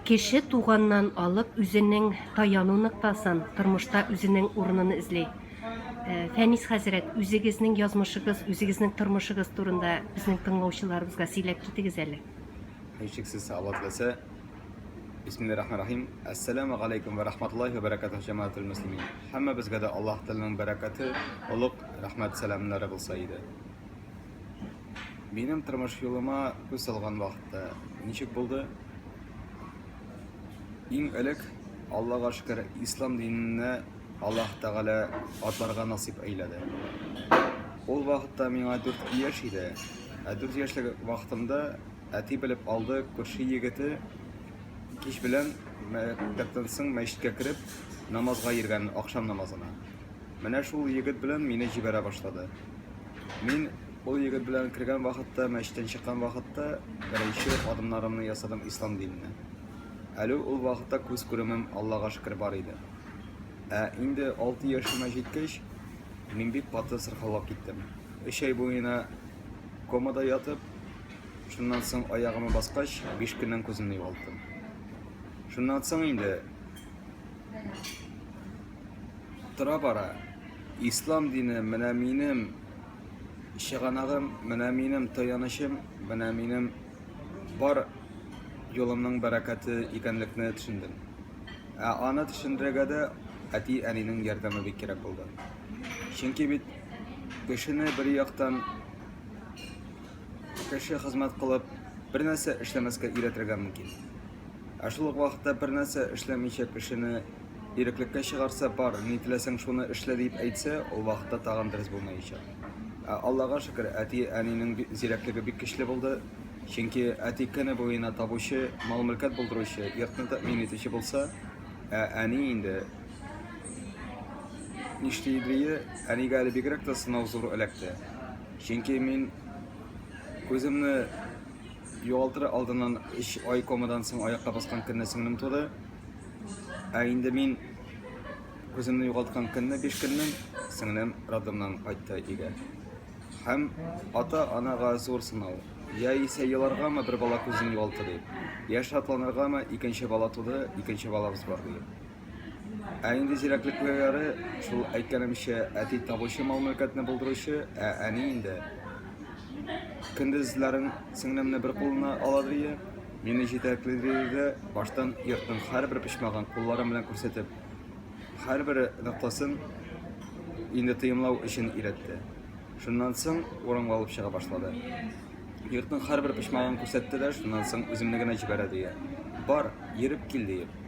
Кеше туганнан алып үзенең таяну ноктасын, тормышта үзенең урынын эзли. Э, Фәнис хәзрәт, үзегезнең язмышыгыз, үзегезнең тормышыгыз турында безнең тыңлаучыларыбызга сөйләп китегез әле. Һичшиксез Алла теләсә. Бисмиллахиррахманиррахим. Ассаламу алейкум ва рахматуллахи ва баракатуһ җәмаатул муслимин. Һәммәбезгә дә Аллаһ Тәгаләнең бәрәкәте, олуг рәхмәт сәламнәре булса иде. Минем тормыш юлыма күз салган вакытта ничек булды? Иң элек, Аллага шөкер, ислам диненә Аллаһ Тәгалә атларга насыйп әйләде. Ул вакытта миңа 4 яшь иде. Ә 4 яшьлек вакытымда әти белеп алды, күрше егете кич белән мәктәптән соң мәчеткә кереп намазга йөргән, акшам намазына. Менә шул егет белән мине җибәрә башлады. Мин ул егет белән кергән вакытта, мәчеттән чыккан вакытта беренче адымнарымны ясадым ислам диненә. Әле ул вакытта күз күремем Аллага шөкер бар иде. Ә инде 6 яшемә җиткәч, мин бик каты сырхаулап киттем. Өч ай буена комада ятып, шуннан соң аягыма баскач, 5 көннән күземне югалттым. Шуннан соң инде тора бара. Ислам дине менә минем чыганагым, менә минем таянычым, менә минем бар юлымның бәрәкәте икәнлекне төшендем. Ә аны төшендерергә дә әти-әнинең ярдәме бик кирәк булды. Чөнки бит кешене бер яктан кеше хезмәт кылып, бер нәрсә эшләмәскә өйрәтергә мөмкин. Ә шул ук вакытта бернәрсә эшләмичә кешене иреклеккә чыгарса, бар, ни теләсәң шуны эшлә дип әйтсә, ул вакытта тагын дөрес булмаячак. Ә Аллага шөкер, әти-әнинең зирәклеге бик көчле булды, чөнки әти көне буена табучы, мал-мөлкәт булдыручы, йортны тәэмин итүче булса, ә әни инде нишли иде, әнигә әле бигрәк тә сынау зур эләкте. Чөнки мин күземне Югалтыр алдыннан өч ай комадан соң аякка баскан көнне сеңлем туды. Ә инде мин үземне югалткан көнне биш көннән сеңлем роддомнан кайтты өйгә. Һәм ата-анага зур сынау. Я исә еларгамы бер бала күзен югалты дип, я шатланыргамы икенче бала туды, икенче балабыз бар диеп. Ә инде зирәклекләре, шул әйткәнемчә, әти табучы мал-мөлкәтне булдыручы, ә әни инде. Көндезләрен сеңлемне бер кулына ала дрие, мине җитәкли дрие баштан йортның һәрбер почмагын кулларым белән күрсәтеп, һәрбер ноктасын инде тоемлау өчен өйрәтте. Шуннан соң урынга алып чыга башлады. Йортның һәрбер почмагын күрсәтте дә, шуннан соң үземне генә җибәрә дрие. Бар, йөреп кил, диеп.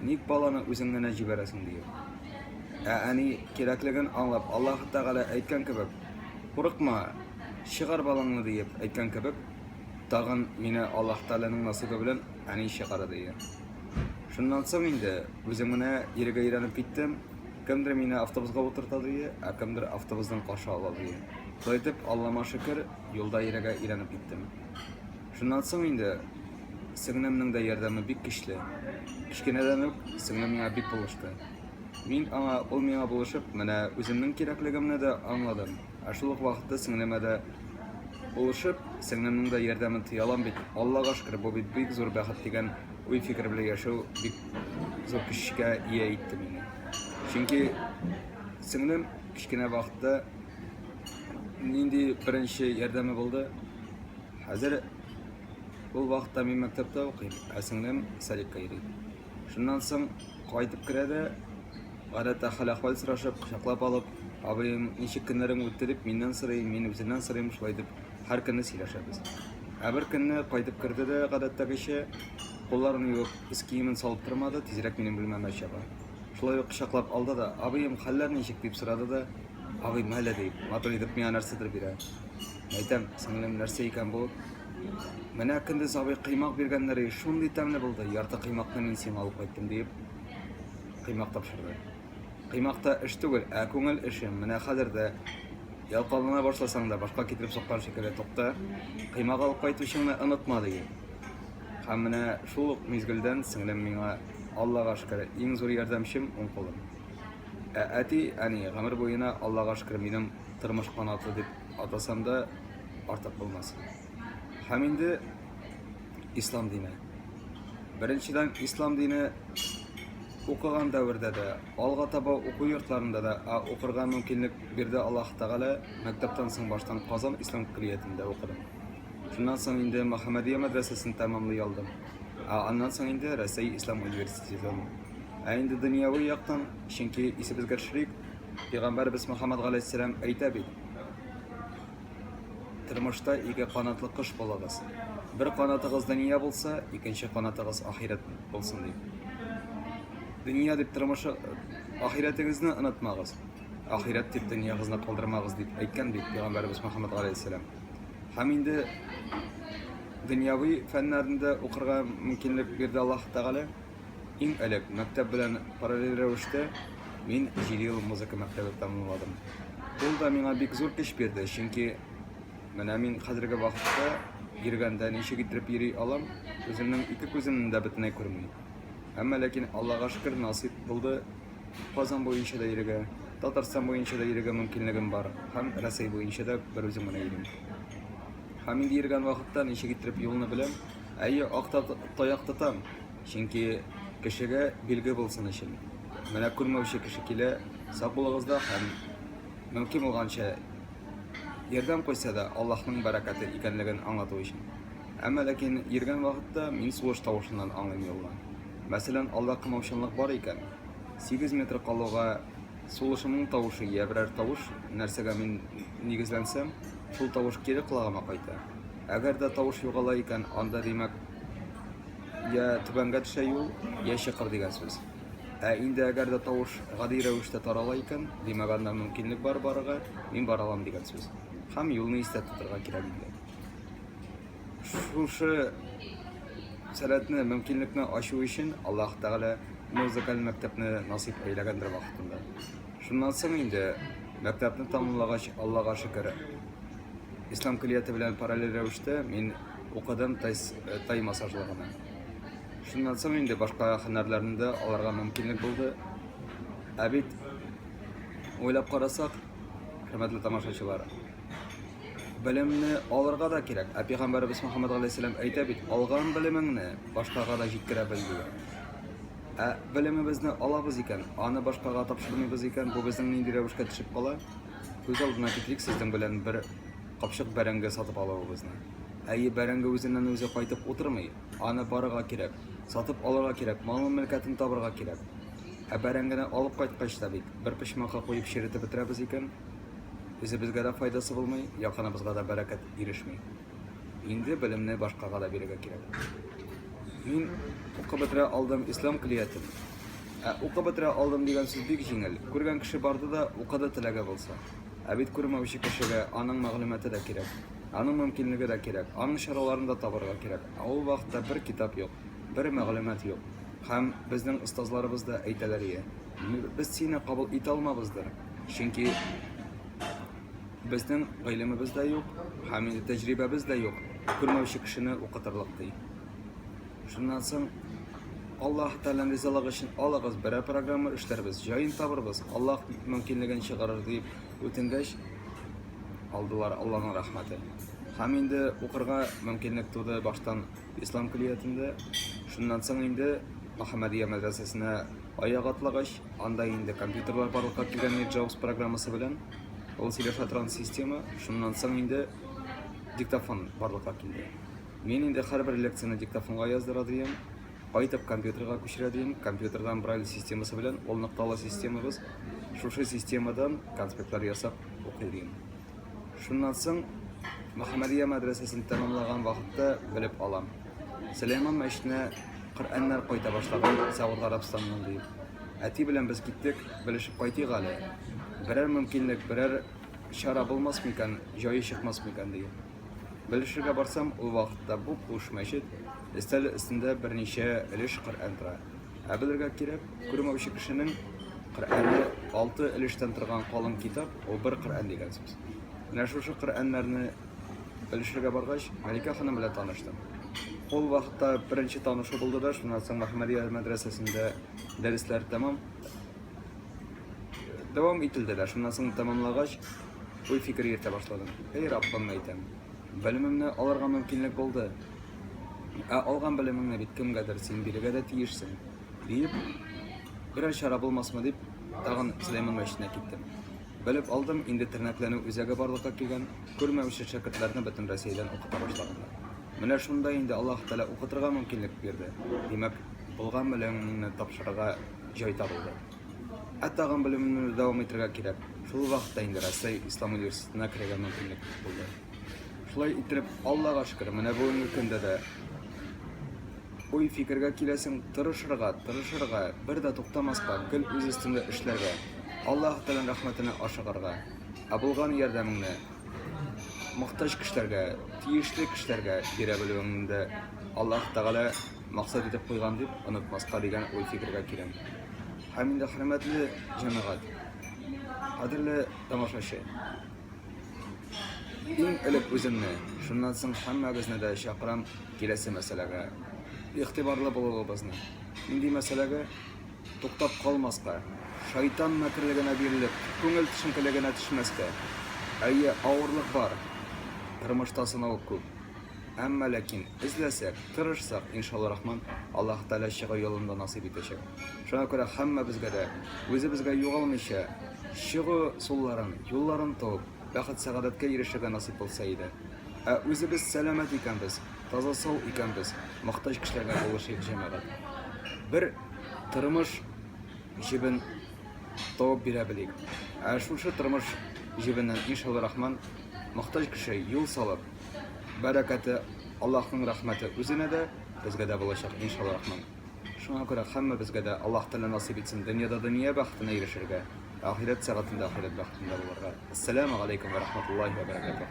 Ник баланы үзең генә җибәрәсең? диеп. Ә әни, кирәклеген аңлап, Аллаһы Тәгалә әйткән кебек, Курыкма, чыгар балаңны, диеп әйткән кебек, тагын мине Аллаһы Тәгаләнең насыйбы белән әни чыгарды. Шуннан соң инде үзем генә йөрергә өйрәнеп киттем. Кемдер мине автобуска утырта, ә кемдер автобустан каршы ала. Шулай итеп, Аллама шөкер, юлда йөрергә өйрәнеп киттем. Шуннан соң инде сеңлемнең дә ярдәме бик көчле. Кечкенәдән үк сеңлем миңа бик булышты. Мин аңа, ул миңа булышып, менә үземнең кирәклегемне дә аңладым. Ә шул ук вакытта сеңлемә дә булышып, сеңлемнең дә ярдәмен тоя алам бит, Аллага шөкер, бу бит бик зур бәхет дигән уй-фикер белән яшәү бик зур көчкә ия итте мине. Чөнки сеңлем кечкенә вакытта нинди беренче ярдәме булды? Хәзер ул вакытта мин мәктәптә укыйм, ә сеңлем садикка йөри. Шуннан соң кайтып керә дә, гадәттә хәл-әхвәл сорашып, кочаклап алып, абыем, ничек көннәрең үтте дип миннән сорый, мин үзеннән сорыйм, шулай итеп һәр көнне сөйләшәбез. Ә бер көнне кайтып керде дә, гадәттәгечә, кулларын юып, өс киемен салып тормады, тизрәк минем бүлмәмә чаба. Шулай ук кочаклап алды да, абыем, хәлләр ничек, дип сорады да, абыем, әле, ди, матур итеп миңа нәрсәдер бирә. Әйтәм, сеңлем, нәрсә икән бу? Менә көндез абый кыймак биргәннәр, и, шундый тәмле булды, ярты кыймакны мин сиңа алып кайттым, диеп, кыймак тапшырды. Кыймак та эш түгел, ә күңел эше. Менә хәзер дә ялкаулана башласаң да, башка китереп суккан шикелле, тукта, кыймак алып кайтучыңны онытма, ди. Һәм менә шул ук мизгелдән сеңлем миңа, Аллага шөкер, иң зур ярдәмчем, уң кулым. Ә әти, әни, гомер буена, Аллага шөкер, минем тормыш канаты, дип Атасам да артык булмас. Һәм инде ислам дине. Беренчедән, ислам дине укыган дәвердә дә, алга таба уку йортларында да, ә укырга мөмкинлек бирде Аллаһ Тәгалә, мәктәптән соң баштан Казан ислам көллиятендә укыдым. Шуннан соң инде Мөхәммәдия мәдрәсәсен тәмамлый алдым, ә аннан соң инде Рәсәй ислам университетын. Ә инде дөньяви яктан, чөнки исебезгә төшерик, Пәйгамбәребез Мөхәммәд галәйһиссәлам әйтә бит, Тормышта ике канатлы кош булыгыз. Бер канатыгыз дөнья булса, икенче канатыгыз ахирәт булсын ди. Дөнья дип тормышы ахирәтегезне онытмагыз. Ахирәт дип дөньягызны калдырмагыз дип әйткән бит Пәйгамбәребез Мөхәммәд галәйһиссәлам. Һәм инде дөньяви фәннәрендә укырга мөмкинлек бирде Аллаһ Тәгалә. Иң элек, мәктәп белән параллель рәвештә, мин җиде ел музыка мәктәбе тәмамладым. Ул да миңа бик зур көч бирде, чөнки менә мин хәзерге вакытта йөргәндә ничек иттереп йөри алам, үземнең ике күземне дә бөтенләй күрми. Әмма ләкин, Аллага шөкер, насыйп булды, Казан буенча да йөрергә, Татарстан буенча да йөрергә мөмкинлегем бар һәм Рәсәй буенча да берүзем генә йөрим. Һәм инде йөргән вакытта ничек иттереп юлны беләм, Әйе, ак таяк тотам, чөнки кешегә билге булсын өчен. Менә күрмәүче кеше килә, сак булыгыз да һәм мөмкин булганча ярдәм куйса да, Аллаһның бәрәкәте икәнлеген аңлату өчен. Әмма ләкин йөргән вакытта мин сулыш тавышыннан аңлыйм юлны. Мәсәлән, алда кымылчынлык бар икән, сигез метр калуга сулышымның тавышы йә берәр тавыш, нәрсәгә мин нигезләнсәм, шул тавыш кире колагыма кайта. Әгәр дә тавыш югала икән, анда димәк, я түбәнгә төшә юл, я чокыр дигән сүз. Ә инде әгәр дә тавыш гади рәвештә тарала икән, димәк, анда мөмкинлек бар барырга, мин бара алам дигән сүз. Һәм юлны истә тотарга кирәк инде. Шушы сәләтне, мөмкинлекне ачу өчен Аллаһ Тәгалә музыкаль мәктәпне насыйп әйләгәндер вакытында. Шуннан соң инде мәктәпне тәмамлагач, Аллага шөкер, Ислам көллияте белән параллель рәвештә мин укыдым тай, э, тай массажлыгына. Шуннан соң инде башка һөнәрләрне дә алырга мөмкинлек булды. Ә бит уйлап карасак, хөрмәтле тамашачылар, белемне алырга да кирәк. Ә пәйгамбәребез Мөхәммәд галәйһиссәлам әйтә бит, алган белемеңне башкага да җиткерә бел дигән. Ә белемебезне алабыз икән, аны башкага тапшырмыйбыз икән, бу безнең нинди рәвешкә төшеп кала? Күз алдына китерик сезнең белән бер капчык бәрәңге сатып алуыбызны. Әйе, бәрәңге үзеннән-үзе кайтып утырмый, аны барырга кирәк, сатып алырга кирәк, малын-мөлкәтен табырга кирәк. Ә бәрәңгене алып кайткач та бит, бер почмакка куеп черетеп бетерәбез икән, үзебезгә дә файдасы булмый, якыныбызга да бәрәкәт ирешми. Инде белемне башкага да бирергә кирәк. Мин укып бетерә алдым ислам көллиятен. Ә укып бетерә алдым дигән сүз бик җиңел, күргән кеше барды да укыды теләге булса. Ә бит күрмәүче кешегә аның мәгълүматы да кирәк, аның мөмкинлеге дә кирәк, аның чараларын да табарга кирәк, ә ул вакытта бер китап юк, бер мәгълүмат юк. Һәм безнең остазларыбыз да әйтәләр ие, без сине кабул итә алмабыздыр, чөнки безнең гыйлемебез дә юк, һәм инде тәҗрибәбез дә юк, күрмәүче кешене укытырлык, ди. Шуннан соң Аллаһ Тәгаләнең ризалыгы өчен алыгыз, берәр программа эшләрбез, җаен табырбыз, Аллаһ мөмкинлеген чыгарыр дип үтенгәч, алдылар Аллаһның рәхмәте. Һәм инде укырга мөмкинлек туды баштан Ислам көллиятендә. Шуннан соң инде Мөхәммәдия мәдрәсәсенә аяк атлагач, анда инде компьютерлар барлыкка килгән иде Джаус программасы белән. Ул сөйләшә торган система. Шуннан соң инде диктофон барлыкка килде. Мин инде һәрбер лекцияне диктофонга яздыра диим, кайтып компьютерга күчерә диим, компьютердан Брайль системасы белән, ул ныкталы системабыз, шушы системадан конспектлар ясап укый диим. Шуннан соң Мөхәммәдия мәдрәсәсен тәмамлаган вакытта белеп алам, Сөләйман мәчетенә Коръәннәр кайта башлаган Сәгуд Гарәбстаннан диеп. Әти белән без киттек, белешеп кайтыйк әле, берәр мөмкинлек, берәр чара булмас микән, җае чыкмас микән диеп. Белешергә барсам, ул вакытта буп-буш мәчет, өстәле өстендә берничә өлеш Коръән тора. Ә белергә кирәк, күрмәүче кешенең Коръәне алты өлештән торган калын китап, ул бер Коръән дигән сүз. Менә шушы Коръәннәрне белешергә баргач, Мәликә ханым белән таныштым. Ул вакытта беренче танышу булды да, шуннан соң Мөхәммәдия мәдрәсәсендә дәресләр тәмам. Дәвам ителде дә, шуннан соң тәмамлагач, уй-фикер йөртә башладым. Эй, Раббым, әйтәм, белемемне алырга мөмкинлек булды. Ә алган белемеңне бит кемгәдер син бирергә дә тиешсең, диеп, берәр чара булмасмы дип, тагын Сөләйман мәчетенә киттем. Белеп алдым, инде тернәкләнү үзәге барлыкка килгән, күрмәүче шәкертләрне бөтен Россиядән укыта башлаганнар. Менә шунда инде Аллаһ Тәгалә укытырга мөмкинлек бирде. Димәк, булган белемеңне тапшырырга җай табылды. Ә тагын белемемне дәвам итәргә кирәк. Шул вакытта инде Россия Ислам университетына керергә мөмкинлек булды. Шулай итеп, Аллага шөкер, менә бүгенге көндә дә уй фикергә киләсең, тырышырга, тырышырга, бер дә туктамаска, көн үз өстендә эшләргә, Аллаһ Тәгаләнең рәхмәтенә ашыгарга, ә булган ярдәмеңне мохтаҗ кешеләргә, тиешле кешеләргә бирә белүеңне дә Аллаһ Тәгалә максат итеп куйган дип онытмаска дигән уй-фикергә киләм. Һәм инде, хөрмәтле җәмәгать, кадерле тамашачы, иң элек үземне, шуннан соң һәммәгезне дә чакырам киләсе мәсьәләгә. Игътибарлы булуыбызны. Нинди мәсьәләгә? Туктап калмаска, шайтан мәкерлегенә бирелеп, күңел төшенкелегенә төшмәскә. Әйе, авырлык бар, тормышта сынау күп. Әмма ләкин, эзләсәк, тырышсак, иншалларахман, Аллаһ Тәгалә чыгу юлын да насыйп итәчәк. Шуңа күрә һәммәбезгә дә, үзебезгә югалмыйча, чыгу сулларын, юлларын табып, бәхет-сәгадәткә ирешергә насыйп булса иде. Ә үзебез сәламәт икәнбез, таза-сау икәнбез, мохтаҗ кешеләргә булышыйк, җәмәгать. Бер тормыш җебен табып бирә белик. Ә шушы тормыш җебеннән, иншалларахман, мохтаҗ кеше юл салып, бәрәкәте, Аллаһның рәхмәте үзенә дә, безгә дә булачак, иншалла рахман. Шуңа күрә һәммәбезгә дә Аллаһ Тәгалә насыйп итсен дөньяда дөнья бәхетенә ирешергә, ахирәт сәгатендә ахирәт бәхетендә булырга. Әссәламү галәйкүм вә рахматуллаһи вә бәрәкәтүһ.